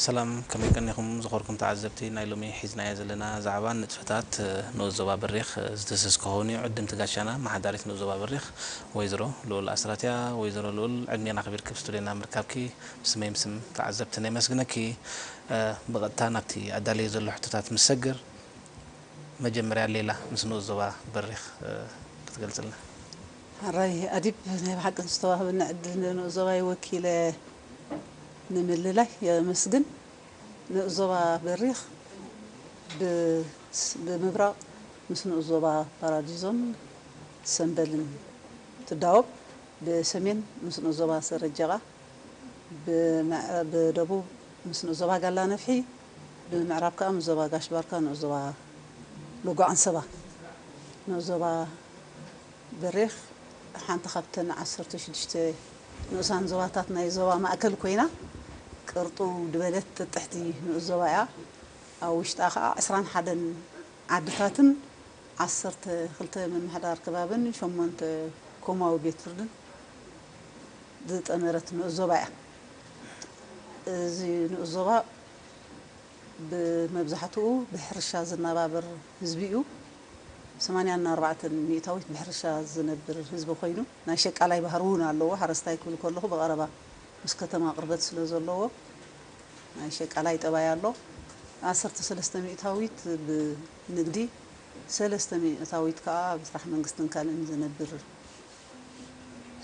ሰላም ከመይ ቀኒኹም ዝኸርኩም ተዓዘብቲ ናይ ሎሚ ሒዝናዮ ዘለና ዛዕባ ንጥፈታት ንኡስ ዞባ በሪኽ ዝድህስስ ክኸውን እዩ ዕድምቲ ጋሻና ኣመሓዳሪት ንኡስ ዞባ በሪኽ ወይዘሮ ልኡል ኣስራት እያ ወይዘሮ ልኡል ዕድሜን ኣኽቢርኪ ኣብ ስቱድዮና ምርካብኪ ብስመይም ስም ተዓዘብትን የመስግነኪ ብቐጥታ ናብቲ ኣዳልየዮ ዘለኹ ሕቶታት ምስ ሰግር መጀመርያ ሌላ ምስ ንኡስ ዞባ በሪኽ ክትገልጽልና። ሕራይ ኣዲብ ናይ ብሓቂ ንዝተዋህበኒ ዕድል ንኡስ ዞባይ ወኪለ ንምልላይ የመስግን። ንኡስ ዞባ በሪኽ ብምብራቕ ምስ ንኡስ ዞባ ፓራዲዞን ሰምበልን ትዳወብ፣ ብሰሜን ምስ ንኡስ ዞባ ሰረጀቓ፣ ብደቡብ ምስ ንኡስ ዞባ ጋላነፍሒ፣ ብምዕራብ ከኣ ምስ ዞባ ጋሽ ባርካ፣ ንኡስ ዞባ ሎጎ ዓንሰባ፣ ንኡስ ዞባ በሪኽ ሓንቲ ካብተን ዓሰርተ ሽዱሽተ ንኡሳን ዞባታት ናይ ዞባ ማእከል ኮይና፣ ቅርጥው ድበለት ጥጥሕቲ ንኡስ ዞባ እያ። ኣብ ውሽጣ ከኣ ዕስራን ሓደን ዓድታትን ዓሰርተ ክልተ ምምሕዳር ከባብን ሸሞንተ ኮማዊ ቤት ፍርድን ዝጠመረት ንኡስ ዞባ እያ። እዚ ንኡስ ዞባ፣ ብመብዛሕትኡ ብሕርሻ ዝነባበር ህዝቢ እዩ። ሰማንያ እና ኣርባዕተን ሚእታዊት ብሕርሻ ዝነብር ህዝቢ ኮይኑ ናይ ሸቃላይ ባህሪ እውን ኣለዎ። ሓረስታይ ክብል ከለኹ ብቐረባ ምስ ከተማ ቅርበት ስለ ዘለዎ ናይ ሸቃላይ ጠባይ ኣሎ። ዓሰርተ ሰለስተ ሚእታዊት ብንግዲ፣ ሰለስተ ሚእታዊት ከኣ ኣብ ስራሕ መንግስትን ካልእን ዝነብር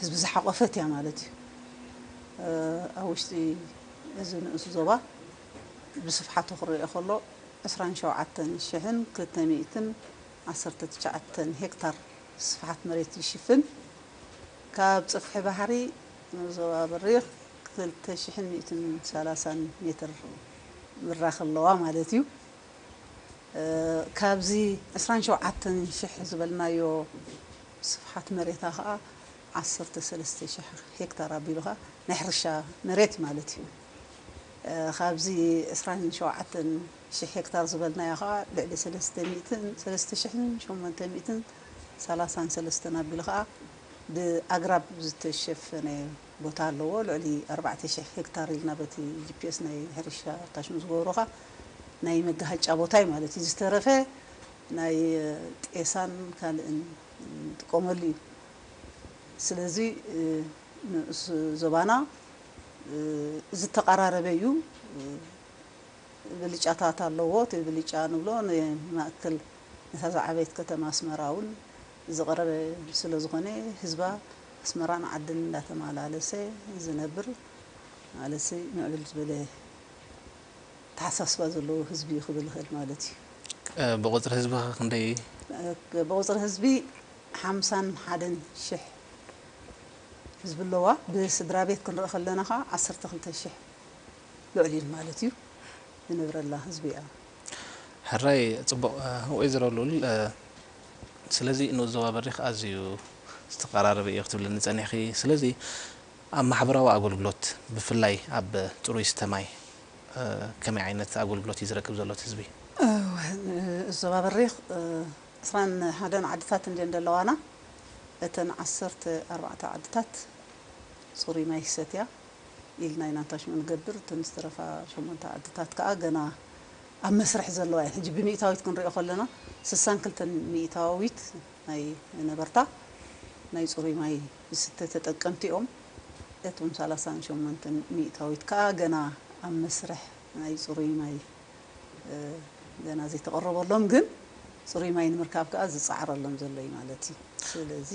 ህዝቢ ዝሓቖፈት እያ ማለት እዩ። ኣብ ውሽጢ እዚ ንኡስ ዞባ። ብስፍሓቱ ክረኦ ከሎ ዕስራን ሸውዓተን ሽሕን ክልተ ሚእትን ዓሰርተ ትሽዓተን ሄክታር ስፍሓት መሬት ይሽፍን። ካብ ጽፍሒ ባሕሪ ናብ ዞባ በሪኽ ክልተ ሽሕን ሚእትን ሰላሳን ሜትር ምራኽ ኣለዋ ማለት እዩ። ካብዚ ዕስራን ሸውዓተን ሽሕ ዝበልናዮ ስፍሓት መሬታ ከኣ ዓሰርተ ሰለስተ ሽሕ ሄክታር ኣቢሉ ከኣ ናይ ሕርሻ መሬት ማለት እዩ። ካብዚ ዕስራን ሸውዓተን ሽሕ ሄክታር ዝበልናዮ ከኣ ልዕሊ ሰለስተ ሚእትን ሰለስተ ሽሕን ሸሞንተ ሚእትን ሰላሳን ሰለስተን ኣቢሉ ከኣ ብኣግራብ ዝተሸፈነ ቦታ ኣለዎ። ልዕሊ ኣርባዕተ ሽሕ ሄክታር ኢልና በቲ ጂፒኤስ ናይ ሕርሻ ኣርካሽም ዝገበሮ ከኣ ናይ መጋሃጫ ቦታ እዩ ማለት እዩ። ዝተረፈ ናይ ጤሳን ካልእን ንጥቀመሉ እዩ። ስለዚ ንኡስ ዞባና ዝተቐራረበ እዩ። ብልጫታት ኣለዎ። እቲ ብልጫ ንብሎ ንማእከል ነታ ዝዓበየት ከተማ ኣስመራ እውን ዝቕረበ ስለ ዝኾነ ህዝባ ኣስመራን ዓድን እንዳተማላለሰ ዝነብር ማለት ምዕብል ዝበለ ኣተሓሳስባ ዘለዎ ህዝቢ እዩ ክብል እኽእል ማለት እዩ። ብቑጽሪ ህዝቢኸ ክንደይ እዩ? ብቑጽሪ ህዝቢ ሓምሳን ሓደን ሽሕ ህዝቢ ኣለዋ ብስድራቤት ክንርኢ ከለና ከኣ ዓሰርተ ክልተ ሽሕ ልዕሊኡ ማለት እዩ ዝነብረላ ህዝቢ እያ። ሕራይ ጽቡቕ ወይዘሮ ሉል ስለዚ ንኡስ ዞባ በሪኽ ኣዝዩ ዝተቐራረበ ኢዩ ክትብልኒ ጸኒሕኺ ስለዚ ኣብ ማሕበራዊ ኣገልግሎት ብፍላይ ኣብ ጽሩይ ስተ ማይ ከመይ ዓይነት ኣገልግሎት ኢዩ ዝረክብ ዘሎ እቲ ህዝቢ? እወ ንኡስ ዞባ በሪኽ ዕስራን ሓደን ዓድታት እንድየን ዘለዋና። እተን ዓሰርተ ኣርባዕተ ዓድታት ፅሩይ ማይ ይሰትያ ኢልና ኢና እንታሽሙ ንገብር፣ እተን ዝተረፋ ሸሞንተ ዓድታት ከዓ ገና ኣብ መስርሕ ዘለዋ እየን። ሕጂ ብሚኢታዊት ክንሪኦ ከለና ስሳን ክልተን ሚኢታዊት ናይ ነበርታ ናይ ፅሩይ ማይ ዝስተ ተጠቀምቲ እዮም። እቶም ሰላሳን ሸሞንተን ሚኢታዊት ከዓ ገና ኣብ መስርሕ ናይ ፅሩይ ማይ ገና ዘይተቐረበሎም ግን ፅሩይ ማይ ንምርካብ ከዓ ዝፀዓረሎም ዘሎ እዩ ማለት እዩ። ስለዚ።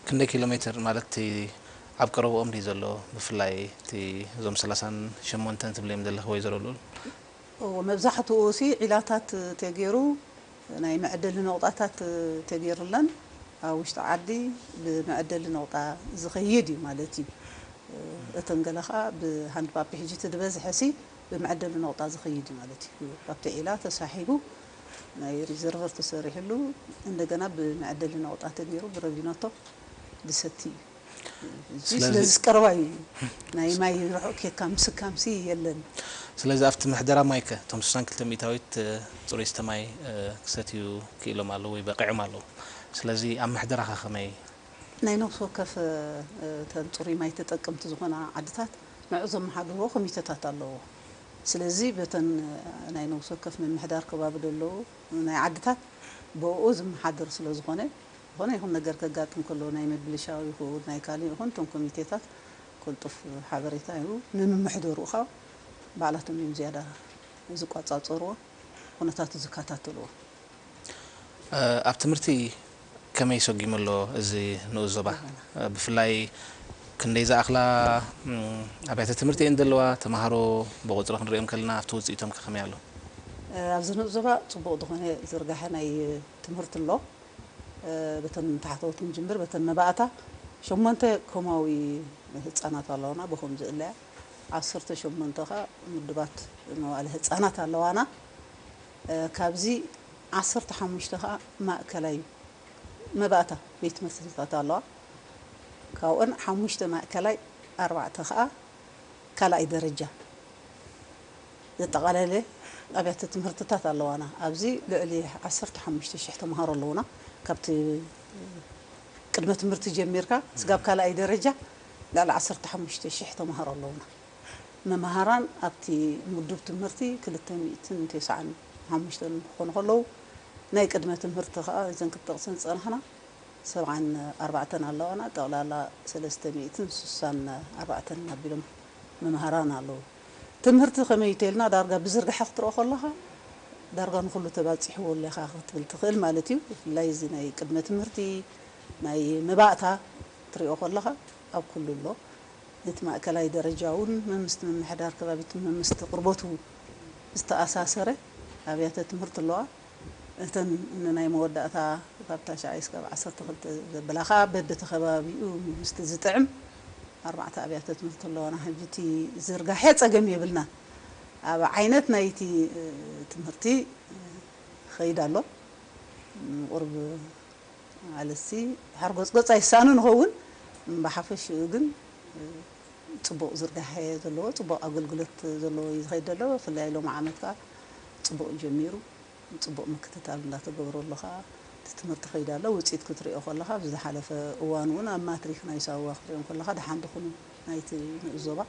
ክንደይ ኪሎ ሜትር ማለት እቲ ኣብ ቀረበኦም ድዩ ዘሎ ብፍላይ እቲ እዞም ሰላሳን ሸሞንተን ትብልዮም ዘለኺ ወይዘሮ ልኡል? እወ መብዛሕትኡ ሲ ዒላታት ተገይሩ ናይ መዐደሊ ነቑጣታት ተገይሩለን ኣብ ውሽጢ ዓዲ ብመዐደሊ ነቑጣ ዝኸይድ እዩ ማለት እዩ። እተን ገለ ከኣ ብሃንድ ፓፕ ሕጂ እቲ ዝበዝሐሲ ብመዐደሊ ነቑጣ ዝኸይድ እዩ ማለት እዩ። ካብቲ ዒላ ተሳሒቡ ናይ ሪዘርቨር ተሰሪሕሉ እንደገና ብመዐደሊ ነቑጣ ተገይሩ ብረቪኖቶ ዝሰቲ እዩ። እዚ ስለዝስ ቀረባ እዩ ናይ ማይ ርሑቅ ኬድካ ምስካምሲ የለን። ስለዚ ኣብቲ ምሕደራ ማይከ እቶም ስሳን ክልተ ሚእታዊት ጽሩይ ዝስተ ማይ ክሰትዩ ክኢሎም ኣለዉ ወይ በቂዖም ኣለዉ ስለዚ ኣብ ምሕደራኸ ከመይ? ናይ ነብሲ ወከፍ እተን ጽሩይ ማይ ተጠቀምቲ ዝኾና ዓድታት ንዕኡ ዘመሓድርዎ ኮሚተታት ኣለዎ። ስለዚ በተን ናይ ነብሲ ወከፍ ምምሕዳር ከባቢ ደለዉ ናይ ዓድታት ብእኡ ዝመሓደር ስለዝኾነ ዝኾነ ይኹን ነገር ከጋጥም ከሎ ናይ ምብልሻው ይኹን ናይ ካልእ ይኹን እቶም ኮሚቴታት ቅልጡፍ ሓበሬታ ይህቡ። ንምምሕደርኡ ከኣ ባዕላቶም እዮም ዝያዳ ዝቋጻጸርዎ ኩነታቱ ዝከታተልዎ። ኣብ ትምህርቲ ከመይ ሰጒሙ ኣሎ እዚ ንኡስ ዞባ? ብፍላይ ክንደይ ዝኣኽላ ኣብያተ ትምህርቲ እየን ዘለዋ? ተመሃሮ ብቑጽሪ ክንርእዮም ከለና ኣብቲ ውጽኢቶምከ ከመይ ኣሎ? ኣብዚ ንኡስ ዞባ ጽቡቕ ዝኾነ ዝርጋሐ ናይ ትምህርቲ ኣሎ በተን ታሕተዎት ክንጅምር በተን መባእታ ሸሞንተ ኮማዊ ህፃናት ኣለዋና ብኹም ዝእለያ ዓሰርተ ሸሞንተ ከ ምዱባት መዋእለ ህፃናት ኣለዋና ካብዚ ዓሰርተ ሓሙሽተ ከ ማእከላይ መባእታ ቤት ትምህርትታት ኣለዋ ካብኦን ሓሙሽተ ማእከላይ ኣርባዕተ ከ ካልኣይ ደረጃ ዘጠቓለለ ኣብያተ ትምህርትታት ኣለዋና። ኣብዚ ልዕሊ ዓሰርተ ሓሙሽተ ሽሕ ተምሃሮ ኣለዉና። ካብቲ ቅድመ ትምህርቲ ጀሚርካ ስጋብ ካልኣይ ደረጃ ልዕሊ ዓሰርተ ሓሙሽተ ሽሕ ተምሃሮ ኣለዉና። መምሃራን ኣብቲ ምዱብ ትምህርቲ ክልተ ሚእትን ቴስዓን ሓሙሽተን ክኾኑ ከለዉ፣ ናይ ቅድመ ትምህርቲ ከኣ እዘን ክንጠቕሰን ዝጸናሕና ሰብዓን ኣርባዕተን ኣለዋና። ጠቕላላ ሰለስተ ሚእትን ስሳን ኣርባዕተን ኣቢሎም መምሃራን ኣለዉ። ትምህርቲ ከመይ እዩ ተልና ዳርጋ ብዝርግሐ ክትርኦ ከለኻ ዳርጋ ንኹሉ ተባጺሕዎ ኣሎ ኢኻ ክትብል ትኽእል ማለት እዩ። ብፍላይ እዚ ናይ ቅድመ ትምህርቲ ናይ መባእታ ክትሪኦ ከለኻ ኣብ ኩሉ ኣሎ። ነቲ ማእከላይ ደረጃ እውን መምስቲ ምምሕዳር ከባቢትን መምስቲ ቅርቦቱ ዝተኣሳሰረ ኣብያተ ትምህርቲ ኣለዋ። እተን ንናይ መወዳእታ ካብ ታሽዓይ እስካብ ዓሰርተ ክልተ ዘብላ ከኣ በብቲ ከባቢኡ ምስቲ ዝጥዕም ኣርባዕተ ኣብያተ ትምህርቲ ኣለዋና ሕጂ እቲ ዝርጋሐ ጸገም የብልናን ኣብ ዓይነት ናይቲ ትምህርቲ ይኸይድ ኣሎ ንቁሩብ ኣልሲ ሓርጎጽጎጽ ኣይሳኑ ንኸውን እም ብሓፈሽኡ ግን ጽቡቕ ዝርጋሐ እየ ዘለዎ ጽቡቕ ኣገልግሎት ዘለዎ እዩ ዝኸይድ ዘሎ ብፍላይ ሎሚ ዓመት ከኣ ጽቡቕ ጀሚሩ ጽቡቕ ምክትታል እንዳተገብረሉ ከኣ እቲ ትምህርቲ ይኸይድ ኣሎ ውጽኢት ክትሪኦ ከለኻ ኣብዚ ዝሓለፈ እዋን ውን ኣብ ማትሪክ ናይ ሳዋ ክትሪኦም ከለኻ ደሓን ድኹኑ ናይቲ ንኡስ ዞባ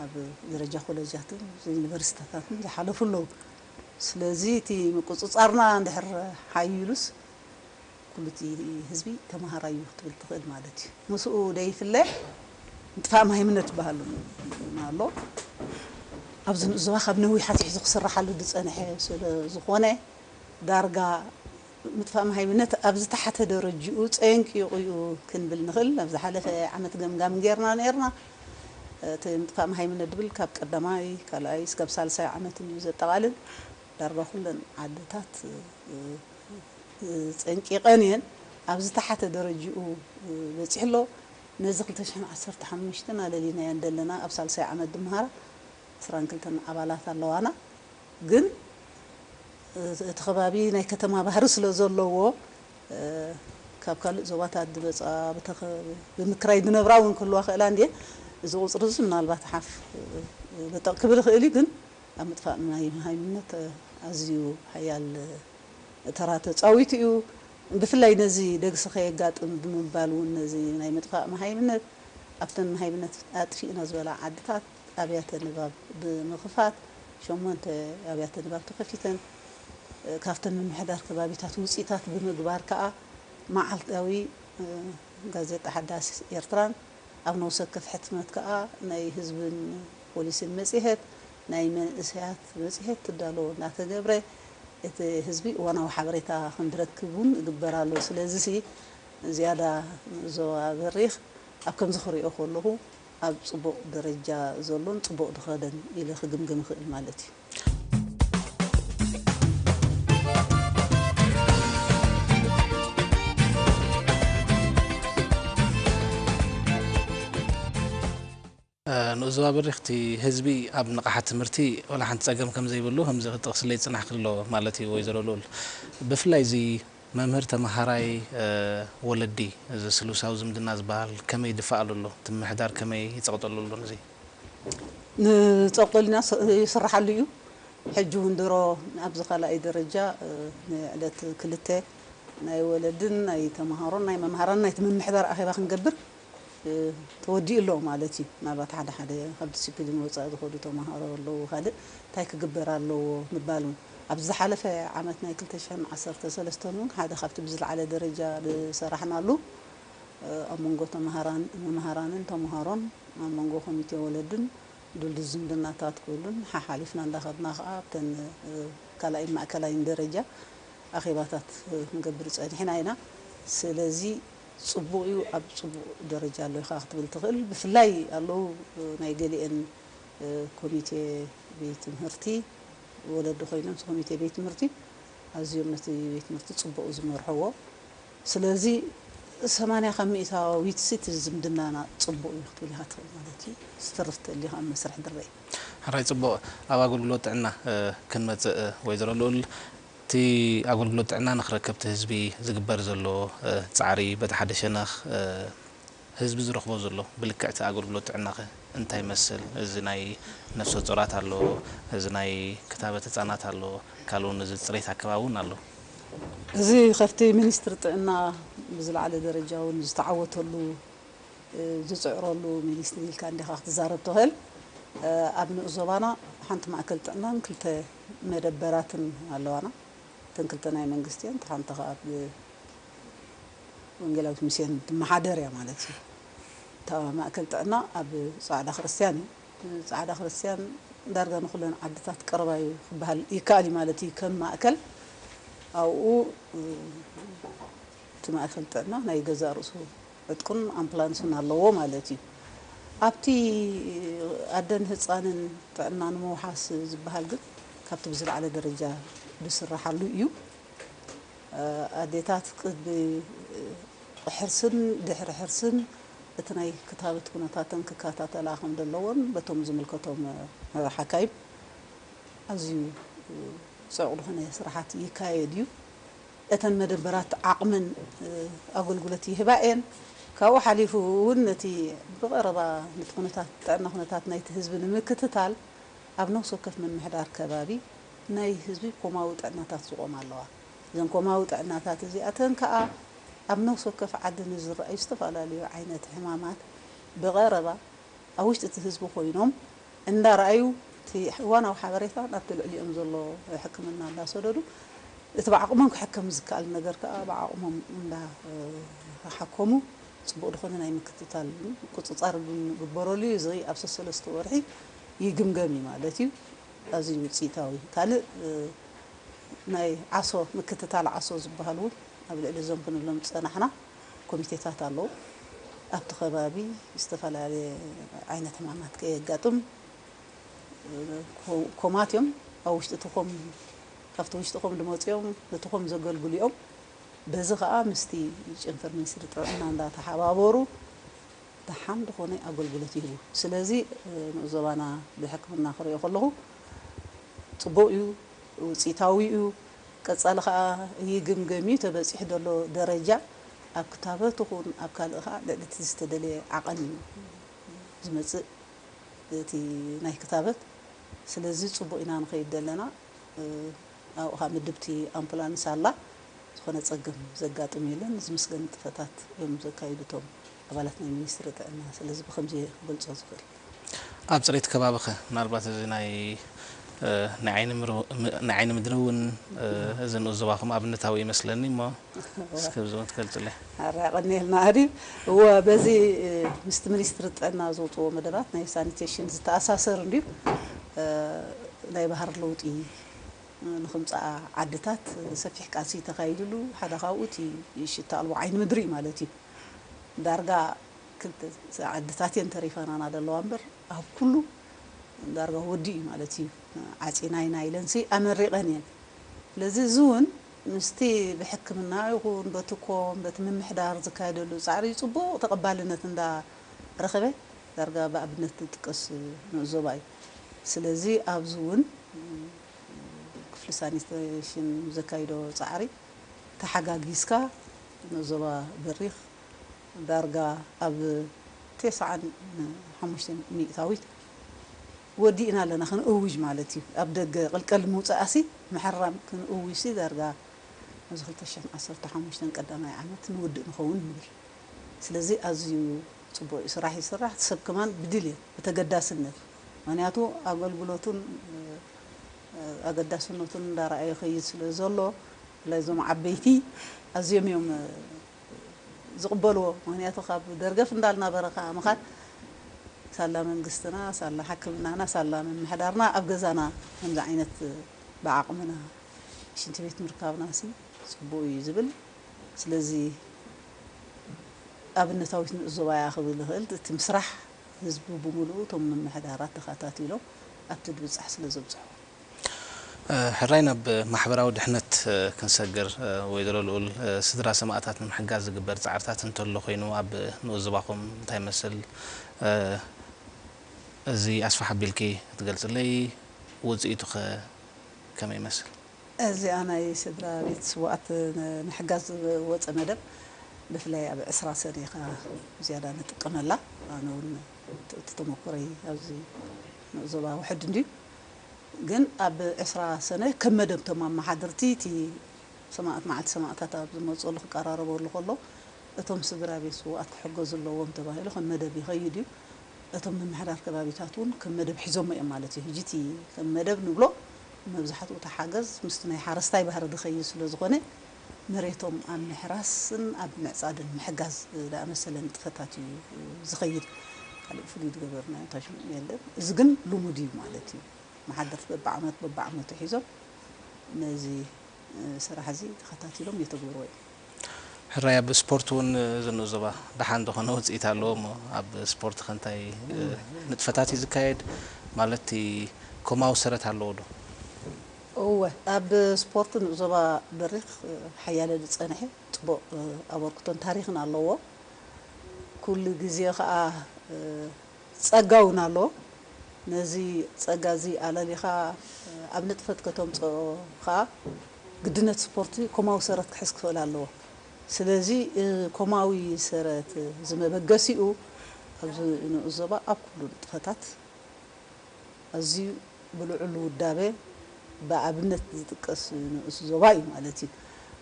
ኣብ ደረጃ ኮለጃትን ዩኒቨርሲታታትን ዝሓለፉ ኣለዉ ስለዚ እቲ ምቁጽጻርና እንድሕር ሓይሉስ ኩሉ እቲ ህዝቢ ተማሃራይ እዩ ክትብል ትኽእል ማለት እዩ። ምስኡ ዘይፍለ ምጥፋእ ማህይምነት ዝበሃል እውን ኣሎ። ኣብዚ ንዕዞባ ካብ ነዊሕ ኣትሒዙ ክስራሓሉ ዝጸንሐ ስለ ዝኾነ ዳርጋ ምጥፋእ ማህይምነት ኣብ ዝተሓተ ደረጅኡ ጸንቂቑ እዩ ክንብል ንኽእል። ኣብ ዝሓለፈ ዓመት ገምጋም ገይርና ነይርና። እቲ ምጥፋእ ማህይምነት ዝብል ካብ ቀዳማይ፣ ካልኣይ እስካብ ሳልሳይ ዓመት እዩ ዘጠቓልል። ዳርጋ ኩለን ዓድታት ጸንቂቐን እየን ኣብ ዝተሓተ ደረጅኡ በጺሑ ኣሎ ነዚ ክልተ ሽሕን ዓሰርተ ሓሙሽተን ኣለሊናዮ እንደለና ኣብ ሳልሳይ ዓመት ድመሃራ ዕስራን ክልተን ኣባላት ኣለዋና ግን እቲ ከባቢ ናይ ከተማ ባህሪ ስለ ዘለዎ ካብ ካልእ ዞባታት ድመጻ ብምክራይ ድነብራ እውን ክህልዋ ክእላ እንድየን እዚ ቁጽሪ እዚ ምናልባት ሓፍ በጠቕ ክብል ይኽእል እዩ ግን ኣብ ምጥፋእ ማይ መሃይምነት ኣዝዩ ሓያል ተራ ተጻዊቱ እዩ። ብፍላይ ነዚ ደግሲ ከየጋጥም ብምባል እውን ነዚ ናይ ምጥፋእ መሃይምነት ኣብተን መሃይምነት ኣጥፊእና ዝበላ ዓድታት ኣብያተ ንባብ ብምኽፋት ሸሞንተ ኣብያተ ንባብ ተኸፊተን ካብተን ምምሕዳር ከባቢታት ውጺታት ብምግባር ከኣ መዓልታዊ ጋዜጣ ሓዳስ ኤርትራን ኣብ ነውሰከፍ ሕትመት ከኣ ናይ ህዝብን ፖሊሲን መጽሔት ናይ መንእሰያት መጽሔት ክዳሎ እናተገብረ፣ እቲ ህዝቢ እዋናዊ ሓበሬታ ከም ዝረክብ እውን ይግበር ኣሎ። ስለዚሲ ዝያዳ ንዞባ በሪኽ ኣብ ከምዚ ክርእዮ ከለኹ ኣብ ጽቡቕ ደረጃ ዘሎን ጽቡቕ ዝኸደን ኢለ ክግምግም እኽእል ማለት እዩ። ንኡስ ዞባ በሪኽቲ ህዝቢ ኣብ ንቕሓት ትምህርቲ ዋላ ሓንቲ ፀገም ከምዘይብሉ ከምዚ ክትጠቕስለይ ዝፅናሕኪ ኣሎ ማለት እዩ ወይዘሮ ልኡል። ብፍላይ እዚ መምህር ተምሃራይ ወለዲ እዚ ስሉሳዊ ዝምድና ዝበሃል ከመይ ይድፈኣሉ ኣሎ? እቲ ምምሕዳር ከመይ ይፀቕጠሉ ኣሎ ንዚ? ንፀቕጠሉ ኢና ይስራሓሉ እዩ። ሕጂ እውን ድሮ ኣብዚ ካልኣይ ደረጃ ንዕለት ክልተ ናይ ወለድን ናይ ተምሃሮን ናይ መምሃራንን ናይቲ ምምሕዳር ኣኼባ ክንገብር ተወዲኡ ኣሎ ማለት እዩ። ምናልባት ሓደ ሓደ ካብ ዲሲፕሊን ወፃኢ ዝኸዱ ተምሃሮ ኣለው ካልእ እንታይ ክግበር ኣለዎ ምባል እውን ኣብዚ ዝሓለፈ ዓመት ናይ ክልተ ሽሕን ዓሰርተ ሰለስተን እውን ሓደ ካብቲ ብዝለዓለ ደረጃ ዝሰራሕናሉ ኣብ መንጎ ተምሃራን መምሃራንን ተምሃሮን ኣብ መንጎ ኮሚቴ ወለድን ድልዱል ዝምድናታት ክህሉን ሓሓሊፍና እንዳኸድና ከዓ ኣብተን ካልኣይን ማእከላይን ደረጃ ኣኼባታት ክንገብር ፀኒሕና ኢና ስለዚ ጽቡቅ ዩ ኣብ ጽቡቅ ደረጃ ኣሎ ኢካ ክትብል ትክእል ብፍላይ ኣለው ናይ ገሊኤን ኮሚቴ ቤት ትምህርቲ ወለዲ ኮይኖም እቲ ኮሚቴ ቤት ትምህርቲ ኣዝዮም ነቲ ቤት ትምህርቲ ጽቡቅ ዝመርሕዎ ስለዚ ሰማንያ ካብ ሚኢታዊትሲ እቲ ዝምድናና ጽቡቅ ዩ ክትብል ኢካ ትክእል ማለት ዩ ዝተርፍ ተልዩ ከኣ ኣብ መስርሕ ድረይ። ሕራይ ጽቡቅ ኣብ ኣገልግሎት ጥዕና ክንመጽእ ወይዘሮ ልኡል። እቲ ኣገልግሎት ጥዕና ንክረከብቲ ህዝቢ ዝግበር ዘሎ ፃዕሪ በቲ ሓደ ሸነኽ ህዝቢ ዝረኽቦ ዘሎ ብልክዕ እቲ ኣገልግሎት ጥዕናኸ እንታይ ይመስል እዚ ናይ ነፍሰ ፆራት ኣሎ እዚ ናይ ክታበት ህፃናት ኣሎ ካልእ ውን እዚ ፅሬት ኣከባቢ ውን ኣሎ። እዚ ከፍቲ ሚኒስትሪ ጥዕና ብዝለዓለ ደረጃ ውን ዝተዓወተሉ ዝፅዕረሉ ሚኒስትሪ ኢልካ እንዲኻ ክትዛረብ ትኽእል ኣብ ንኡስ ዞባና ሓንቲ ማእከል ጥዕናን ክልተ መደበራትን ኣለዋና እተን ክልተ ናይ መንግስቲ እየን እታ ሓንቲ ከኣ ብ ወንጌላዊት ሚስዮን ትመሓደር እያ ማለት እዩ እታ ማእከል ጥዕና ኣብ ጻዕዳ ክርስትያን እዩ ጻዕዳ ክርስትያን ዳርጋ ንኩለን ዓድታት ቀረባ እዩ ክበሃል ይከኣል እዩ ማለት እዩ ከም ማእከል ኣብኡ እቲ ማእከል ጥዕና ናይ ገዛእ ርእሱ ዕጥቁን ኣምፕላንሱን ኣለዎ ማለት እዩ። ኣብቲ ኣደን ህጻንን ጥዕና ንምውሓስ ዝበሃል ግን ካብቲ ብዝለዓለ ደረጃ ዝስራሓሉ እዩ። ኣዴታት ቅድሚ ሕርስን ድሕሪ ሕርስን እቲ ናይ ክታበት ኩነታተን ክከታተላ ከም ዘለዎን በቶም ዝምልከቶም ሓካይም ኣዝዩ ጽዑቕ ዝኾነ ስራሓት ይካየድ እዩ። እተን መደበራት ዓቕምን ኣገልግሎት ይህባ እየን። ካብኡ ሓሊፉ እውን ነቲ ብቐረባ ነቲ ኩነታት ጥዕና ኩነታት ናይቲ ህዝቢ ንምክትታል ኣብ ነብሲ ወከፍ ምምሕዳር ከባቢ ናይ ህዝቢ ኮማዊ ጥዕናታት ዝቖማ ኣለዋ። እዘን ኮማዊ ጥዕናታት እዚኣተን ከኣ ኣብ ነብሲ ወከፍ ዓዲ ንዝረኣዩ ዝተፈላለዩ ዓይነት ሕማማት ብቐረባ ኣብ ውሽጢ እቲ ህዝቢ ኮይኖም እንዳረኣዩ እቲ እዋናዊ ሓበሬታ ናብቲ ልዕሊኦም ዘሎ ሕክምና እንዳሰደዱ እቲ ብዓቕሞም ክሕከም ዝከኣል ነገር ከኣ ብዓቕሞም እንዳሓከሙ ጽቡቕ ዝኾነ ናይ ምክትታል ምቁጽጻር ክግበረሉ እዩ። እዚ ኣብ ሰሰለስተ ወርሒ ይግምገም እዩ ማለት እዩ። ኣዝዩ ውጽኢታዊ እዩ። ካልእ ናይ ዓሶ ምክትታል ዓሶ ዝበሃል እውን ኣብ ልዕሊ እዞም ክንብሎም ዝጸናሕና፣ ኮሚቴታት ኣለዉ። ኣብቲ ከባቢ ዝተፈላለየ ዓይነት ሕማማት ከየጋጥም ኮማት እዮም። ኣብ ውሽጢ እቲ ኮም ካብቲ ውሽጢ ኮም ዝመፁ እዮም። ነቲ ኮም ዘገልግሉ እዮም። በዚ ከዓ ምስቲ ጨንፈር ሚኒስትሪ ጥዕና እንዳተሓባበሩ ደሓን ዝኾነ ኣገልግሎት ይህቡ። ስለዚ ንኡስ ዞባና ብሕክምና ክሪኦ ከለኹ ፅቡቕ እዩ፣ ውፅኢታዊ እዩ። ቀጻሊ ከኣ ይግምገም እዩ፣ ተበጺሑ ዘሎ ደረጃ ኣብ ክታበት ይኹን ኣብ ካልእ ከኣ ልዕሊ እቲ ዝተደልየ ዓቐን እዩ ዝመጽእ እቲ ናይ ክታበት፣ ስለዚ ጽቡቕ ኢና ንኸይድ ዘለና፣ ኣብኡ ከኣ ምድብቲ ኣምፑላንስ ኣላ፣ ዝኾነ ጸገም ዘጋጥም የለን፣ ዝምስገን ንጥፈታት እዮም ዘካይዱ እቶም። ኣባላት ናይ ሚኒስትሪ ጥዕና። ስለዚ ብኸምዚ እየ ክገልጾ ዝኽእል። ኣብ ጽሬት ከባቢኸ? ምናልባት እዚ ናይ ናይ ዓይኒ ምድሪ እውን እዚ ንኡስ ዞባኹም ኣብነታዊ እዩ መስለኒ እሞ እስከ ኣብዚ እውን ትገልጽለይ። ኣረ ኣቐንየልና ኣሪ። እወ በዚ ምስቲ ሚኒስትሪ ጥዕና ዘውጽእዎ መደባት ናይ ሳኒቴሽን ዝተኣሳሰር እንድዩ። ናይ ባህሪ ለውጢ ንኽምጽኣ ዓድታት ሰፊሕ ቃልሲ ተኻይድሉ ሓደ ካብኡ እቲ ሽታ ኣልቦ ዓይኒ ምድሪ እዩ ማለት እዩ። ዳርጋ ክልተ ዓድታት እየን ተሪፈናና ዘለዋ እምበር ኣብ ኩሉ ዳርጋ ወዲኡ እዩ ማለት እዩ ዓጺና ኢና ኢለንሲ ኣመሪቐን እየን። ስለዚ እዚ እውን ምስቲ ብሕክምና ይኹን በቲ ኮም በቲ ምምሕዳር ዝካየደሉ ጻዕሪ ጽቡቕ ተቐባልነት እንዳ ረኸበ ዳርጋ ብኣብነት ዝጥቀስ ንዕዞባ እዩ። ስለዚ ኣብዚ እውን ክፍሊ ሳኒቴሽን ዘካይዶ ጻዕሪ ተሓጋጊዝካ ዞባ በሪኽ ዳርጋ ኣብ ቴስዓን ሓሙሽተን ሚእታዊት ወዲእና ኣለና ክንእውጅ ማለት እዩ። ኣብ ደገ ቅልቀል ምውጻኣሲ ምሕራም ክንእውጅሲ ዳርጋ ኣብዚ ክልተ ሽሕን ዓሰርተ ሓሙሽተን ቀዳማይ ዓመት ንውድእ ንኸውን ንብል። ስለዚ ኣዝዩ ጽቡቕ እዩ ስራሕ ይስራሕ እቲ ሰብ ከማን ብድልየት ብተገዳስነት ምክንያቱ ኣገልግሎቱን ኣገዳስነቱን እንዳረኣየ ይኸይድ ስለ ዘሎ ብፍላይ እዞም ዓበይቲ ኣዝዮም እዮም ዝቕበልዎ ምኽንያቱ ካብ ደርገፍ እንዳልናበረ ከኣ ምኻድ ሳላ መንግስትና ሳላ ሕክምናና ሳላ ምምሕዳርና ኣብ ገዛና ከምዚ ዓይነት ብዓቕምና ሽንቲ ቤት ምርካብናሲ ጽቡቕ እዩ ዝብል ስለዚ ኣብነታዊት ንኡስ ዞባ እያ ክብል ይኽእል እቲ ምስራሕ ህዝቢ ብምሉኡ እቶም ምምሕዳራት ተኸታቲሎም ኣብቲ ድብጻሕ ስለ ዘብጽሑ። ሕራይ ናብ ማሕበራዊ ድሕነት ክንሰግር ወይዘሮ ልኡል፣ ስድራ ሰማእታት ንምሕጋዝ ዝግበር ጻዕርታት እንተሎ ኮይኑ ኣብ ንኡስ ዞባኹም እንታይ ይመስል? እዚ ኣስፍሕ ኣቢልኪ ክትገልጽለይ ውጽኢቱኸ ከመይ ይመስል? እዚኣ ናይ ስድራ ቤት ስውኣት ንምሕጋዝ ዝወጸ መደብ ብፍላይ ኣብ ዕስራ ሰነ ኢኻ ብዝያዳ ንጥቀመላ ኣነ ውን እቲ ተመኩሮይ ኣብዚ ዞባ ውሕድ እንድዩ ግን ኣብ ዕስራ ሰነ ከም መደብ እቶም ኣማሓደርቲ እቲ ሰማእት መዓልቲ ሰማእታት ኣብ ዝመጽሉ ክቀራረበሉ ከሎ እቶም ስድራ ቤት ስውኣት ክሕገዙ ኣለዎም ተባሂሉ ከም መደብ ይኸይድ እዩ እቶም ምምሕዳር ከባቢታት ውን ከም መደብ ሒዞሞ እዮም ማለት እዩ ሕጂ እቲ ከም መደብ ንብሎ መብዛሕትኡ እቲ ሓገዝ ምስቲ ናይ ሓረስታይ ባህሪ ዝኸይድ ስለዝኾነ መሬቶም ኣብ ምሕራስን ኣብ ምዕፃድን ምሕጋዝ ዝኣመሰለ ንጥፈታት እዩ ዝኸይድ። ካሊእ ፍሉይ ዝገበርናዮ እንታይ ሽሙ የለን። እዚ ግን ልሙድ እዩ ማለት እዩ። መሓደርቲ በብዓመት በብዓመቱ ሒዞም ነዚ ስራሕ እዚ ተኸታቲሎም የተግብርዎ እዮም። ሕራይ ኣብ ስፖርት ውን ዝንኡ ዞባ ደሓን ዝኾነ ውጽኢት ኣለዎ እሞ ኣብ ስፖርት ከ እንታይ ንጥፈታት እዩ ዝካየድ ማለት እቲ ኮማዊ ሰረት ኣለዎ ዶ? እወ ኣብ ስፖርት ንኡ ዞባ በሪኽ ሓያለ ዝጸንሔ ጽቡቕ ኣበርክቶን ታሪኽን ኣለዎ ኩሉ ግዜ ከኣ ጸጋ ውን ኣሎ ነዚ ጸጋ እዚ ኣለሊኻ ኣብ ንጥፈት ከተምጽኦ ከኣ ግድነት ስፖርት ኮማዊ ሰረት ክሕዝ ክኽእል ኣለዎ ስለዚ ኮማዊ ሰረት እዚ መበገሲኡ ኣብዚ ንኡስ ዞባ ኣብ ኩሉ ንጥፈታት ኣዝዩ ብልዑል ውዳበ ብኣብነት ዝጥቀስ ንኡስ ዞባ እዩ ማለት እዩ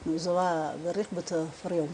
ንኡስ ዞባ በሪኽ ብተፍርዮም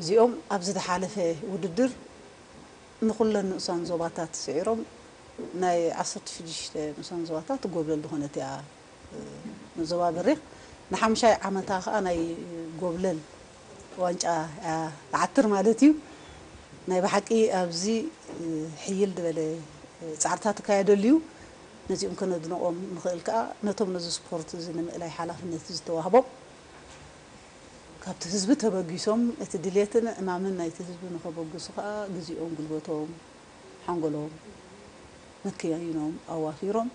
እዚኦም ኣብ ዝተሓለፈ ውድድር ንኹለን ንኡሳን ዞባታት ስዒሮም ናይ ዓሰርተ ሽዱሽተ ንኡሳን ዞባታት ጎብለል ዝኾነት እያ ንዞባ በሪኽ ንሓሙሻይ ዓመታ ከኣ ናይ ጎብለል ዋንጫ እያ ትዓትር ማለት እዩ። ናይ ብሓቂ ኣብዚ ሕይል ድበለ ጻዕርታት ትካየደሉ እዩ። ነዚኦም ከነድንቖም ንኽእል ከኣ ነቶም ነዚ ስፖርት እዚ ንምእላይ ሓላፍነት ዝተዋህቦም፣ ካብቲ ህዝቢ ተበጊሶም እቲ ድሌትን ዕማምን ናይቲ ህዝቢ ንኸበግሱ ከኣ ግዜኦም፣ ጉልበቶም፣ ሓንጎሎም፣ መከያይኖም ኣዋፊሮም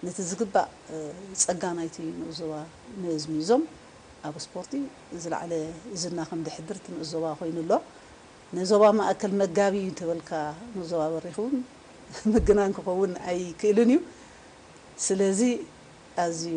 ነቲ ዝግባእ ጸጋ ናይቲ ንኡስ ዞባ መዝሚዞም ኣብ ስፖርቲ ዝለዓለ ዝና ከም ዘሕድር እቲ ንኡስ ዞባ ኮይኑ ኣሎ። ንዞባ ማእከል መጋቢ እዩ እንተበልካ ንኡስ ዞባ በሪኽ እውን ምግናን ክኸውን ኣይክእልን እዩ። ስለዚ ኣዝዩ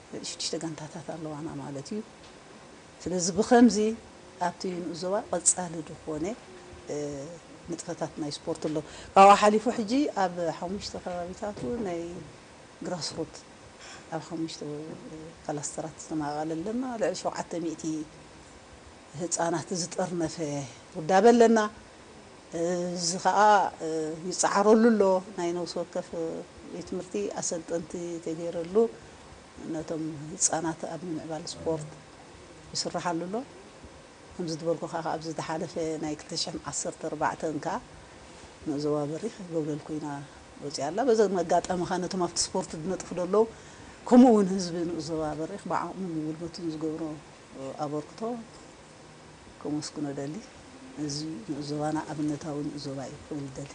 ሽዱሽተ ጋንታታት ኣለዋና ማለት እዩ። ስለዚ ብኸምዚ ኣብቲ ንኡስ ዞባ ቐጻሊ ድኾነ ንጥፈታት ናይ ስፖርት ኣሎ። ካብኡ ሓሊፉ ሕጂ ኣብ ሓሙሽተ ከባቢታቱ ናይ ግራስ ሩት ኣብ ሓሙሽተ ካላስተራት ዝተማቐለ ኣለና። ልዕሊ ሸውዓተ ሚእቲ ህጻናት ዝጠርነፈ ውዳበ ኣለና። እዚ ከኣ ይጸዓረሉ ኣሎ። ናይ ነብሲ ወከፍ ቤት ትምህርቲ ኣሰልጠንቲ ተገይረሉ ነቶም ህጻናት ኣብ ምምዕባል ስፖርት ይስረሓሉ ኣሎ። ከምዚ ዝበልኩኻ ከኣ ኣብዚ ዝሓለፈ ናይ ክልተ ሽሕን ዓሰርተ ኣርባዕተን ከኣ ን ዞባ በሪኽ ጎብለል ኮይና ወጺኣ ኣላ። በዚ መጋጠሚ ከኣ ነቶም ኣብቲ ስፖርት ዝነጥፉ ዘለዉ ከምኡ ውን ህዝቢ ንኡስ ዞባ በሪኽ ብዓቕሙን ጉልበቱን ዝገብሮ ኣበርክቶ ከመስግኖ እደሊ። እዚ ንኡስ ዞባና ኣብነታዊ ንኡስ ዞባ እዩ ክብል እደሊ።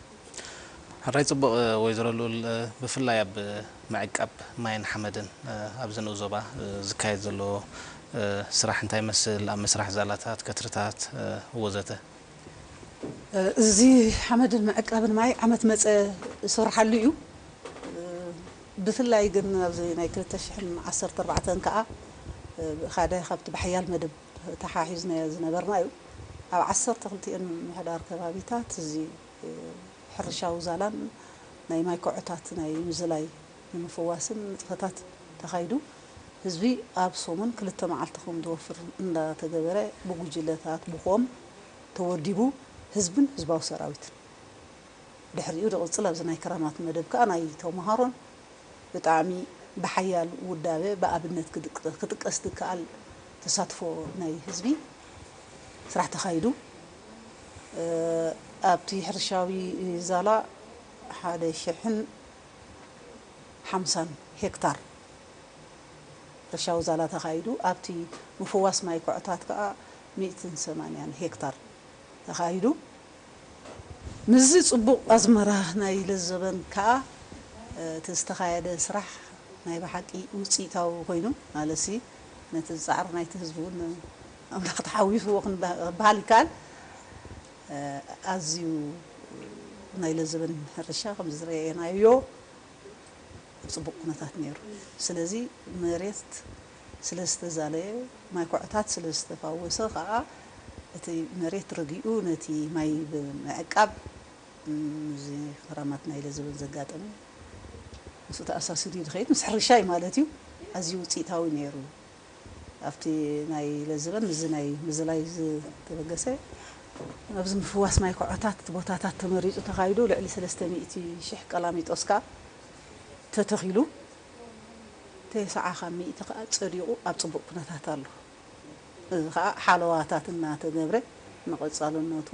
ሕራይ ጽቡቕ ወይዘሮ ልኡል ብፍላይ ኣብ ምዕቃብ ማይን ሓመድን ኣብዚ ንኡስ ዞባ ዝካየድ ዘሎ ስራሕ እንታይ ይመስል ኣብ ምስራሕ ዛላታት፣ ከትርታት ወዘተ። እዚ ሓመድን ምዕቃብን ማይ ዓመት መጸ ዝስርሓሉ እዩ። ብፍላይ ግን ኣብዚ ናይ ክልተ ሽሕን ዓሰርተ ኣርባዕተን ከኣ ሓደ ካብቲ ብሓያል መደብ ተሓሒዝናዮ ዝነበርና እዩ። ኣብ ዓሰርተ ክልቲኤን ምምሕዳር ከባቢታት እዚ ሕርሻዊ ዛላን ናይ ማይ ኮዖታት ናይ ምዝላይ ንምፍዋስን ንጥፈታት ተኻይዱ ህዝቢ ኣብ ሰሙን ክልተ መዓልቲ ከምዝወፍር እንዳተገበረ ብጉጅለታት ብኮም ተወዲቡ ህዝብን ህዝባዊ ሰራዊትን ድሕሪኡ ድቕጽል ኣብዚ ናይ ክራማት መደብ ከኣ ናይ ተመሃሮን ብጣዕሚ ብሓያል ውዳበ ብኣብነት ክጥቀስ ድከኣል ተሳትፎ ናይ ህዝቢ ስራሕ ተኻይዱ ኣብቲ ሕርሻዊ ዛላ ሓደ ሽሕን ሓምሳን ሄክታር ሕርሻዊ ዛላ ተኻይዱ ኣብቲ ምፍዋስ ማይ ኮዕታት ከኣ ሚእትን ሰማንያን ሄክታር ተኻይዱ። ምስዚ ጽቡቕ ኣዝመራ ናይ ለዘበን ከኣ እቲ ዝተኻየደ ስራሕ ናይ ብሓቂ ውጽኢታዊ ኮይኑ ማለትሲ ነቲ ጻዕሪ ናይቲ ህዝቢ እውን ኣምላኽ ተሓዊስዎ ክበሃል ይከኣል ኣዝዩ ናይ ለዘበን ሕርሻ ከምዚ ዝረኤናዮ ኣብ ጽቡቕ ኩነታት ነይሩ ስለዚ መሬት ስለ ዝተዛለየ፣ ማይ ኩዕታት ስለ ዝተፋወሰ ከኣ እቲ መሬት ረጊኡ ነቲ ማይ ብምዕቃብ እዚ ክራማት ናይ ለዘበን ዘጋጠመ ምስኡ ተኣሳሲሩ ዝኸይድ ምስ ሕርሻ እዩ ማለት እዩ ኣዝዩ ውጽኢታዊ ነይሩ። ኣብቲ ናይ ለዘበን ምስዚ ናይ ምዝላይ ዝተበገሰ፣ ኣብዚ ምፍዋስ ማይ ኩዕታት እቲ ቦታታት ተመሪጹ ተኻይዱ ልዕሊ ሰለስተ ሚእቲ ሽሕ ቀላሚጦስ ከኣ ተተኺሉ። ተሰዓ ካብ ሚእቲ ከኣ ጸዲቑ ኣብ ጽቡቕ ኩነታት ኣሎ። እዚ ከኣ ሓለዋታት እናተገብረ ንቐጻልነቱ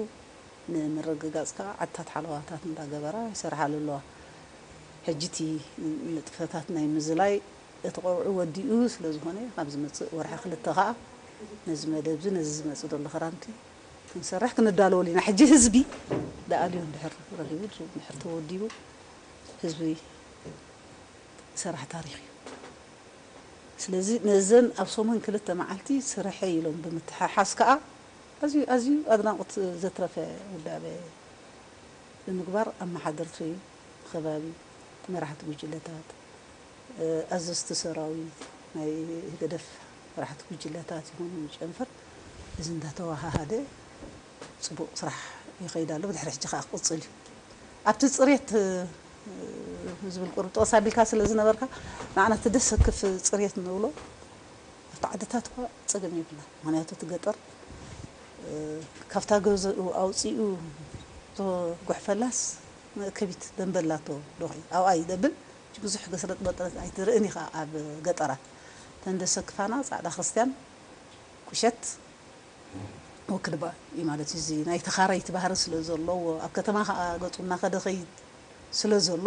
ንምርግጋጽ ከኣ ዓድታት ሓለዋታት እንዳገበራ ይሰርሓሉ ኣለዋ። ሕጂ እቲ ንጥፈታት ናይ ምዝላይ እቲ ቀውዒ ወዲኡ ስለዝኾነ ኣብ ዝመጽእ ወርሒ ክልተ ከኣ ነዚ መደብዚ ነዚ ዝመጽእ ዘሎ ክራምቲ ክንሰርሕ ክንዳለወሉ ኢና። ሕጂ ህዝቢ ደኣልዩ እንድሕር ረኺቡ ድሕር ተወዲቡ ህዝቢ ዝሰራሕ ታሪኽ እዩ። ስለዚ ነዘን ኣብ ሰሙን ክልተ መዓልቲ ስርሐይ ኢሎም ብምትሕሓዝ ከኣ ኣዝዩ ኣዝዩ ኣድናቖት ዘትረፈ ውዳበ ብምግባር ኣመሓደርቲ ኸባቢ፣ መራሕቲ ጉጅለታት፣ ኣዘዝቲ ሰራዊት፣ ናይ ህግደፍ መራሕቲ ጉጅለታት ይኹኑ ጨንፈር እዚ እንዳተወሃሃደ ጽቡቅ ስራሕ ይኸይድ ኣሎ ብድሕሪ ሕጂ ከኣ ክቅጽል እዩ ኣብቲ ጽሬት ዝብል ቁሩብ ጥቅስ ኣቢልካ ስለ ዝነበርካ ንዓና እቲ ደስ ዘክፍ ጽሬት እንብሎ ኣብቲ ዓድታት እኳ ጸገም የብልናን ምክንያቱ እቲ ገጠር ካብታ ገዝኡ ኣውጺኡ ዝጉሕፈላስ ከቢት ደምበ ኣላቶ ዶኺ ኣብኣ ይደብል ሕጂ ብዙሕ ገስረጥ መጥረጥ ኣይትርእን ኢኻ ኣብ ገጠራት እተን ደሰክፋና ጻዕዳ ክርስትያን ቁሸት ወክልባ እዩ ማለት እዩ እዚ ናይ ተኻረይቲ ባህሪ ስለ ዘለዎ ኣብ ከተማ ከኣ ገጹ እናኸደ ይኸይድ ስለ ዘሎ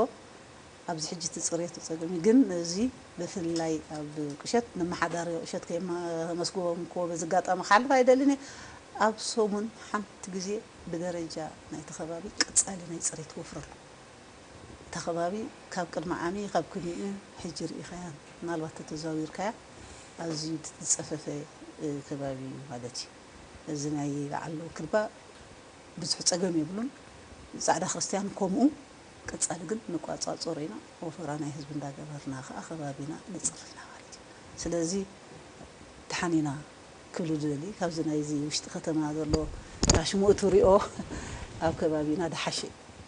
ኣብዚ ሕጂ እቲ ጽሬቱ ጸገም እዩ ግን እዚ ብፍላይ ኣብ ቁሸት ነመሓዳሪ ቁሸት ከየመስግቦምክዎ በዚ ኣጋጣሚ ክሓልፍ ኣይደልን እየ ኣብ ሰሙን ሓንቲ ግዜ ብደረጃ ናይቲ ከባቢ ቀጻሊ ናይ ጽሬት ወፍሪ ኣሎ እታ ከባቢ ካብ ቅድሚ ዓሚ ካብ ኩኒኡ ሕጂ ርኢኻያ ምናልባት ተተዛዊርካያ ኣዝዩ ዝጸፈፈ ከባቢ እዩ ማለት እዩ እዚ ናይ በዓል ክርባ ብዙሕ ጸገም የብሉን ጻዕዳ ክርስትያን ኮምኡ ቀጻሊ ግን ንቋጻጾሮ ኢና ወፈራ ናይ ህዝቢ እንዳ ገበርና ከኣ ከባቢና ነጽሪ ኢና ማለት እዩ ስለዚ ድሓን ኢና ክብል ዝደሊ ካብዚ ናይዚ ውሽጢ ከተማ ዘሎ ራሽሞኡት ሪኦ ኣብ ከባቢና ድሓሸ እዩ።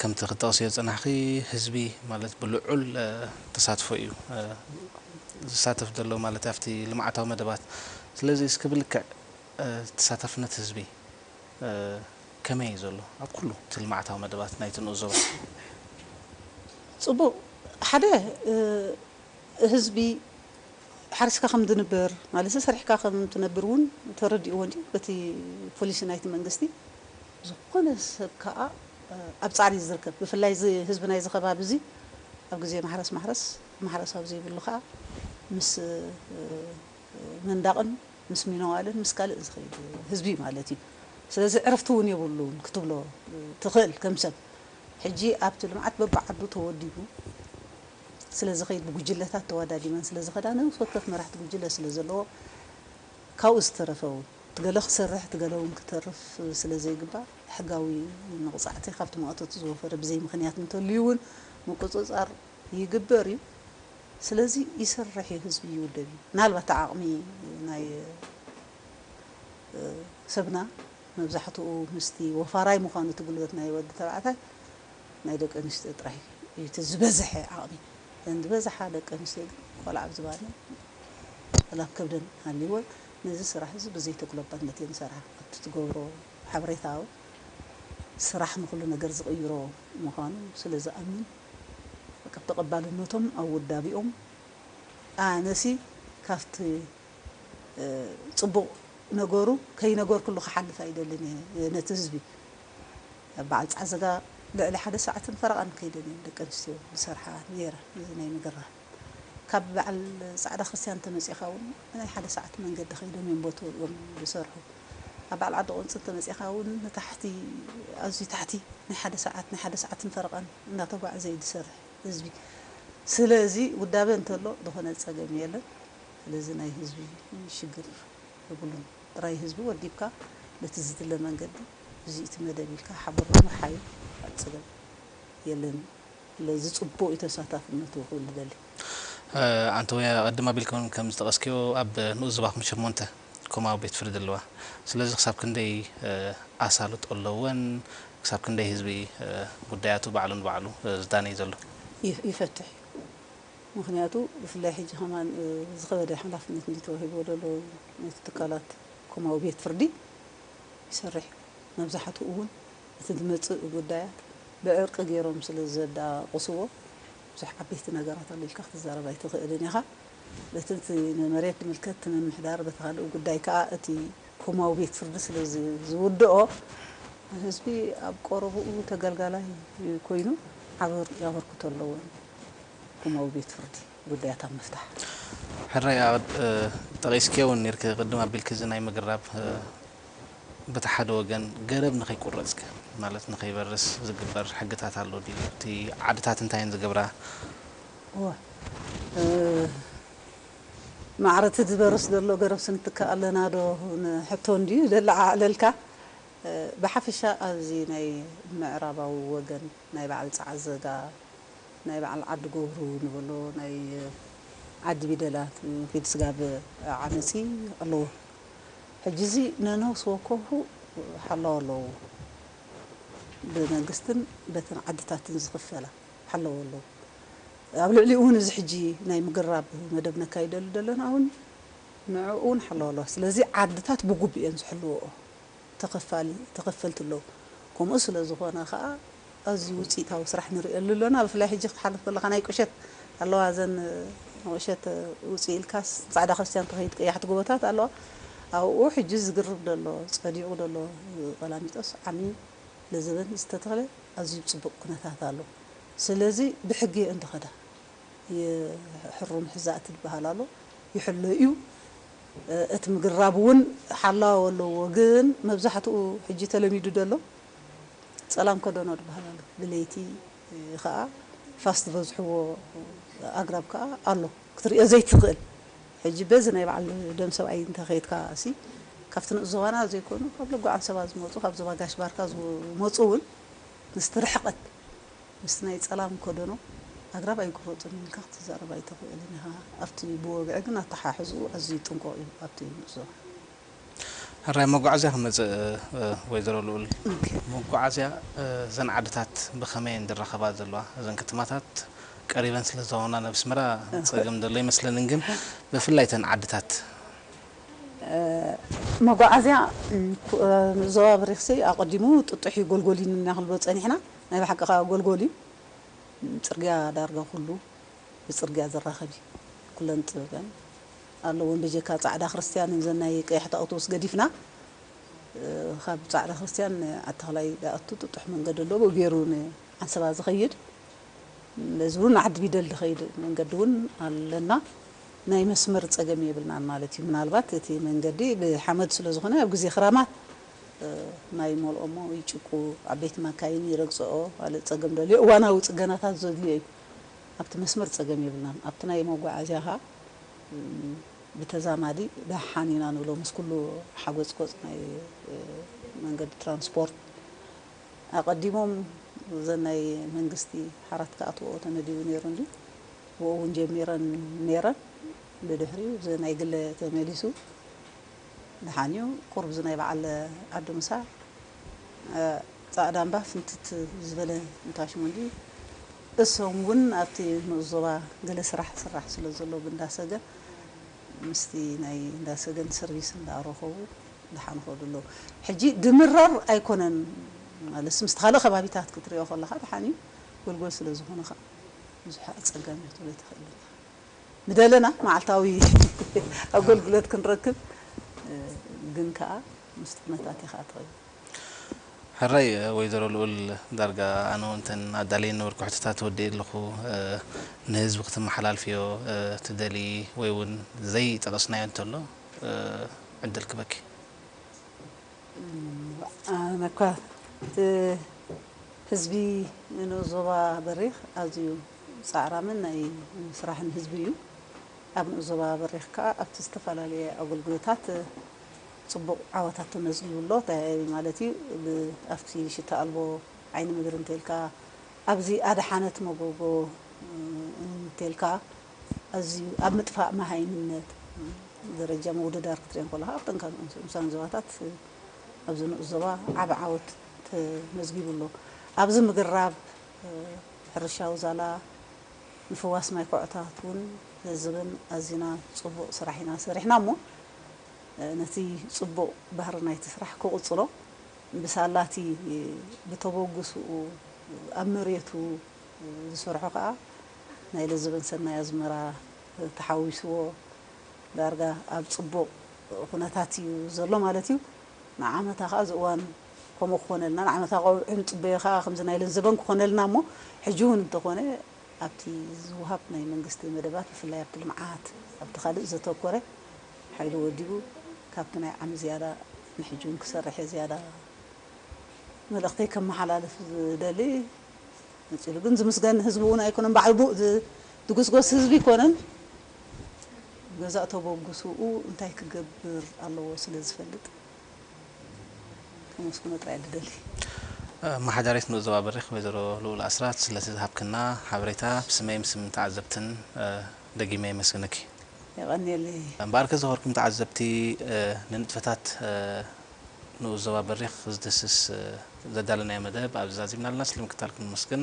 ከምቲ ክትጠቕስዮ ዝጸናሕኺ ህዝቢ ማለት ብልዑል ተሳትፎ እዩ ዝሳተፍ ዘሎ ማለት ኣብቲ ልምዓታዊ መደባት ስለዚ እስኪ ብልክዕ ተሳታፍነት ህዝቢ ከመይ እዩ ዘሎ ኣብ ኩሉ እቲ ልምዓታዊ መደባት ናይቲ ንኡስ ዞባ? ጽቡቕ ሓደ ህዝቢ ሓሪስካ ከም ዝንበር ማለት ሰሪሕካ ከም ትነብር እውን ተረዲእዎ እንድዩ በቲ ፖሊሲ ናይቲ መንግስቲ። ዝኾነ ሰብ ከኣ ኣብ ጻዕሪ እዩ ዝርከብ ብፍላይ እዚ ህዝቢ ናይዚ ከባቢ እዚ ኣብ ግዜ ማሕረስ ማሕረስ ማሕረስ ኣብ ዘይብሉ ከኣ ምስ ምንዳቕን ምስ ሚነዋልን ምስ ካልእን ዝኸይድ ህዝቢ ማለት እዩ ስለዚ ዕረፍቲ ውን የብሉን ክትብሎ ትኽእል ከም ሰብ ሕጂ ኣብቲ ልምዓት በብዓዱ ተወዲቡ ስለ ዝኸይድ ብጉጅለታት ተዋዳዲበን ስለ ዝኸዳ ነብስ ወከፍ መራሕቲ ጉጅለ ስለ ዘለዎ ካብኡ ዝተረፈ ውን ትገለ ክሰርሕ ትገለ ውን ክተርፍ ስለ ዘይግባእ ሕጋዊ መቕጻዕቲ ካብቲ ማእቶት ዝወፈረ ብዘይ ምኽንያት እንተልዩ ውን ምቁጽጻር ይግበር እዩ ስለዚ ይሰርሕ እዩ ህዝቢ ይውደብ እዩ ምናልባት ዓቅሚ ናይ ሰብና መብዛሕትኡ ምስቲ ወፋራይ ምኳኑ እቲ ጉልበት ናይ ወዲ ተባዕታይ ናይ ደቂ ኣንስትዮ ጥራይ እዩ እቲ ዝበዝሐ ዓቅሚ እተን ዝበዝሓ ደቂ ኣንስትዮ ግን ቆልዓ ኣብ ዝባነን ዋላ ኣብ ከብደን ሃልይወን ነዚ ስራሕ እዚ ብዘይ ተጉለባነት እየን ዝሰርሓ ኣብቲ ትገብሮ ሓበሬታዊ ስራሕ ንኩሉ ነገር ዝቅይሮ ምኳኑ ስለ ዝኣምን በቃ ተቀባልነቶም ኣብ ውዳቢኦም ኣነሲ ካብቲ ጽቡቅ ነገሩ ከይነገርኩሉ ክሓልፍ ኣይደልን እየ ነቲ ህዝቢ በዓል ጻዕዝጋ ልዕሊ ሓደ ሰዓትን ፈረቃን ከይደን እየን ደቂ ኣንስትዮ ዝሰርሓ ኔረን እዚ ናይ ምግራም ካብ በዓል ጻዕዳ ክርስትያን እንተመጺእካ ውን ናይ ሓደ ሰዓት መንገዲ ከይዶም እዮም ቦትኡ እዮም ዝሰርሑ ኣብ በዓል ዓዲ ቁንጺ እንተመጺእካ ውን ንታሕቲ ኣዝዩ ታሕቲ ናይ ሓደ ሰዓት ናይ ሓደ ሰዓትን ፈረቃን እንዳተጓዕዘ እዩ ዝሰርሕ ህዝቢ ስለዚ ውዳበ እንተሎ ዝኾነ ጸገም የለን ስለዚ ናይ ህዝቢ ሽግር የብሉን ጥራይ ህዝቢ ወዲብካ በቲ ዝድለ መንገዲ እዚ እቲ መደብ ኢልካ ሓበሮም ምርሓዩ ካልእ ጸገም የለን። ስለዚ ጽቡቕ እዩ ተሳታፍነቱ ክብል ይደሊ። ኣንተውያ ቅድም ኣቢልክን ከም ዝጠቐስክዮ ኣብ ንኡስ ዞባኹም ሸሞንተ ኮማዊ ቤት ፍርዲ ኣለዋ። ስለዚ ክሳብ ክንደይ ኣሳልጦ ኣለወን? ክሳብ ክንደይ ህዝቢ ጉዳያቱ ባዕሉ ንባዕሉ ዝዳነይ ዘሎ? ይፈትሕ እዩ። ምኽንያቱ ብፍላይ ሕጂ ከማን ዝኸበደ ሓላፍነት እንድዩ ተዋሂብዎ ዘሎ ነቲ ትካላት ኮማዊ ቤት ፍርዲ ይሰርሕ እዩ። መብዛሕትኡ እውን። እቲ ዝመጽእ ጉዳያት ብዕርቂ ገይሮም ስለ ዘዳቕስዎ፣ ብዙሕ ዓበይቲ ነገራት ኣሎ ኢልካ ክትዛረብ ኣይትኽእልን ኢኻ። በቲ እቲ ንመሬት ዝምልከት እቲ ምምሕዳር፣ በቲ ካልእ ጉዳይ ከኣ እቲ ኮማዊ ቤት ፍርዲ ስለ ዝውድኦ፣ ህዝቢ ኣብ ቀረባኡ ተገልጋላይ ኮይኑ ዓቢ ኣበርክቶ ኣለዎ ንኮማዊ ቤት ፍርዲ። ጉዳያት ኣብ ምፍታሕ። ሕራይ ዓቐድ ጠቒስክዮ ውን ኔርኪ ቅድም ኣቢልኪ እዚ ናይ ምግራብ በቲ ሓደ ወገን ገረብ ንኸይቁረጽ ከ ማለት ንኸይበርስ ዝግበር ሕግታት ኣሎ ድዩ እቲ ዓድታት እንታይ እየን ዝገብራ? እወ ማዕረ እቲ ዝበርስ ዘሎ ገረብሲ ንትክእ ኣለና ዶ ንሕቶ እንድዩ ዘለዓዕለልካ ብሓፈሻ ኣብዚ ናይ ምዕራባዊ ወገን ናይ በዓል ጸዓዘጋ ናይ በዓል ዓዲ ጎብሩ ንበሎ ናይ ዓዲ ቢደላ ፊድ ስጋብ ዓመጺ ኣለዎ ሕጂ እዚ ነነውስ ወከፉ ሓላው ኣለዎ ብመንግስትን በተን ዓድታትን ዝኽፈላ ሓለዎ ኣለዎ ኣብ ልዕሊኡ ውን እዚ ሕጂ ናይ ምግራብ መደብ ነካይደሉ ደለና ውን ንዕኡ ውን ሓላው ኣለዋ ስለዚ ዓድታት ብጉቡእ እየን ዝሕልዎኦ። ተኸፋሊ፣ ተኸፈልቲ ኣለዉ። ከምኡ ስለ ዝኾነ ከኣ ኣዝዩ ውጽኢታዊ ስራሕ ንርእየሉ ኣሎና። ብፍላይ ሕጂ ክትሓልፍ ከለኻ ናይ ቁሸት ኣለዋ እዘን ንቁሸት ውጽእ ኢልካስ ንጻዕዳ ክርስትያን ትኸይድ ቀያሕቲ ጎቦታት ኣለዋ ኣብኡ ሕጂ ዝግርብ ዘሎ ጸዲቑ ዘሎ ቐላሚጦስ ዓሚ ለዘበን ዝተተኽለ ኣዝዩ ኣብ ጽቡቕ ኩነታት ኣሎ ስለዚ ብሕጊ እየን ተኸዳ ይሕሩም ሕዛእቲ ዝበሃል ኣሎ ይሕሎ እዩ እቲ ምግራብ እውን ሓላው ኣለዎ ግን መብዛሕትኡ ሕጂ ተለሚዱ ደሎ ጸላም ከደኖ ድበሃል ኣሎ ብለይቲ ከኣ ፋስ ዝበዝሕዎ ኣግራብ ከኣ ኣሎ ክትርእዮ ዘይትኽእል ሕጂ በዚ ናይ በዓል ደም ሰብኣይ እንተ ከይድካ ሲ ካብቲ ንኡስ ዞባና ዘይኮኑ ካብ ለጎ ዓንሰባ ዝመጹ ካብ ዞባ ጋሽ ባርካ ዝመጹ እውን ምስቲ ርሕቀት ምስ ናይ ጸላም ኮደኖ ኣግራብ ኣይቁረጹን ኢልካ ክትዛረብ ኣይተኽእልን ኢኻ። ኣብቲ ብወግዒ ግን ኣተሓሕዝኡ ኣዝዩ ጥንቁቕ እዩ ኣብቲ ንዕዞ። ሕራይ መጓዓዝያ ክመጽእ ወይዘሮ ልኡል። መጓዓዝያ እዘን ዓድታት ብኸመይ እየን ዝራኸባ ዘለዋ? እዘን ከተማታት ቀሪበን ስለ ዝዋና ናብ ኣስመራ ጸገም ዘሎ ኣይመስለንን ግን ብፍላይ እተን ዓድታት። መጓዓዝያ ዞባ ብሪኽሲ ኣቐዲሙ ጥጡሕ እዩ ጎልጎል እዩ ንናክልቦ ጸኒሕና ናይ ብሓቂ ከኣ ጎልጎል እዩ ጽርግያ ዳርጋ ኩሉ ብጽርግያ ዝራከብ እዩ ኩለን ጥበበን ኣለወን ብጀካ ጻዕዳ ክርስትያን እዘን ናይ ቀያሕቲ ኣውቶቡስ ገዲፍና ካብ ጻዕዳ ክርስትያን ዓዲተክላይ ድኣቱ ጥጡሕ መንገዲ ኣሎ ብኡ ጌሩ ን ዓንሰባ ዝከይድ በዚ ውን ን ዓዲቢደል ድከይድ መንገዲ ውን ኣለና ናይ መስመር ጸገም የብልናን ማለት እዩ ምናልባት እቲ መንገዲ ብሓመድ ስለ ዝኮነ ኣብ ግዜ ክራማት ማይ ይመልኦሞ ይጭቁ ዓበይቲ ማካይን ይረግጸኦ ካልእ ጸገም ደልዮ እዋናዊ ጽገናታት ዘድልዮ እዩ ኣብቲ መስመር ጸገም የብልናን ኣብቲ ናይ መጓዓዝያ ከኣ ብተዛማዲ ደሓን ኢና ንብሎ ምስ ኩሉ ሓጎጽጎጽ ናይ መንገዲ ትራንስፖርት ኣቀዲሞም እዘን ናይ መንግስቲ ሓራት ክኣትወኦ ተመዲቡ ኔሩ እንድዩ ብኡ ውን ጀሚረን ኔረን ብድሕሪኡ እዚ ናይ ግለ ተመሊሱ ድሓንዩ ቁሩብ እዚ ናይ በዓል ዓዲ ምሳ ጻእዳ እምባ ፍንትት ዝበለ እንታሽሙ እንዲ እሶም ውን ኣብቲ ንኡስ ዞባ ገለ ስራሕ ዝስራሕ ስለ ዘሎ ብእንዳ ሰገን ምስቲ ናይ እንዳ ሰገን ሰርቪስ እንዳ ረከቡ ድሓን ይከዱ ኣለዉ ሕጂ ድምረር ኣይኮነን ማለትሲ ምስቲ ካልእ ከባቢታት ክትሪኦ ከለካ ድሓንዩ ጎልጎል ስለ ዝኮነ ከኣ ብዙሕ ኣጸጋሚ ክትብሎ ኣይትክእልን ኢካ። ምደለና መዓልታዊ ኣጎልግሎት ክንረክብ ግን ከኣ ምስቲ ኩነታት ኢኻ ትኸይድ። ሕራይ ወይዘሮ ልኡል ዳርጋ ኣነ ውን እተን ኣዳልየን ነበርኩ ሕቶታት ወዲኤ ኣለኩ ንህዝቢ ክትመሓላልፍዮ ትደልዪ ወይ ውን ዘይ ጠቀስናዮ እንተሎ ዕድል ክበኪ። እዋእ ኣነኳ እቲ ህዝቢ ንኡስ ዞባ በሪኽ ኣዝዩ ጻዕራምን ናይ ስራሕን ህዝቢ እዩ። ኣብ ንኡስ ዞባ በሪኽ ከኣ ኣብቲ ዝተፈላለየ ኣገልግሎታት ጽቡቕ ዓወታት ተመዝጊቡ ኣሎ። እንታይ ማለት እዩ? ኣብቲ ሽታ ኣልቦ ዓይኒ ምድሪ እንተልካ፣ ኣብዚ ኣድሓነት መጎጎ እንተልካ፣ ኣዝዩ ኣብ ምጥፋእ መሃይምነት ደረጃ ምውድዳር ክትሪኦም ከለኻ ኣብ ጠንካን ንኡሳን ዞባታት ኣብዚ ንኡስ ዞባ ዓቢ ዓወት ተመዝጊቡ ኣሎ። ኣብዚ ምግራብ ሕርሻዊ ዛላ ምፍዋስ ማይ ኮዖታት እውን ህዝብን ኣዚና ጽቡቕ ስራሕ ኢና ሰሪሕና እሞ ነቲ ጽቡቕ ባህሪ ናይቲ ስራሕ ክቕጽሎ ብሳላ እቲ ብተበጉስኡ ኣብ መሬቱ ዝሰርሖ ከኣ ናይ ልዝብን ሰናይ ኣዝመራ ተሓዊስዎ ዳርጋ ኣብ ጽቡቕ ኩነታት እዩ ዘሎ ማለት እዩ። ንዓመታ ከኣ እዚ እዋን ከምኡ ክኾነልና ንዓመታ ቆብዑ ንጽበዮ ከኣ ከምዚ ናይ ለን ዘበን ክኾነልና እሞ ሕጂ ውን እንተኾነ ኣብቲ ዝውሃብ ናይ መንግስቲ መደባት ብፍላይ ኣብቲ ልምዓት ኣብቲ ካልእ ዘተኮረ ሓይሉ ወዲቡ ካብቲ ናይ ዓሚ ዝያዳ ንሕጂ ውን ክሰርሕ እየ ዝያዳ መልእኽተይ ከመሓላልፍ ዝደሊ ነጺሉ ግን ዝምስገን ህዝቢ ውን ኣይኮነን ባዕሉ ድጉስጎስ ህዝቢ ኣይኮነን። ገዛእ ተበግሶኡ እንታይ ክገብር ኣለዎ ስለ ዝፈልጥ ከመስግኖ ጥራይ እየ ልደሊ። ኣማሓዳሪት ንኡስ ዞባ በሪኽ ወይዘሮ ልኡል ኣስራት ስለቲ ዝሃብክና ሓበሬታ ብስመይን ብስም ተዓዘብትን ደጊመ የመስግነኪ። የቐንየለይ። እምበኣርከ ዝኸበርኩም ተዓዘብቲ ንንጥፈታት ንኡስ ዞባ በሪኽ ዝድህስስ ዘዳለናዮ መደብ ኣብዚ ዛዚምና ኣለና። ስለምክትታልኩም ነመስግን።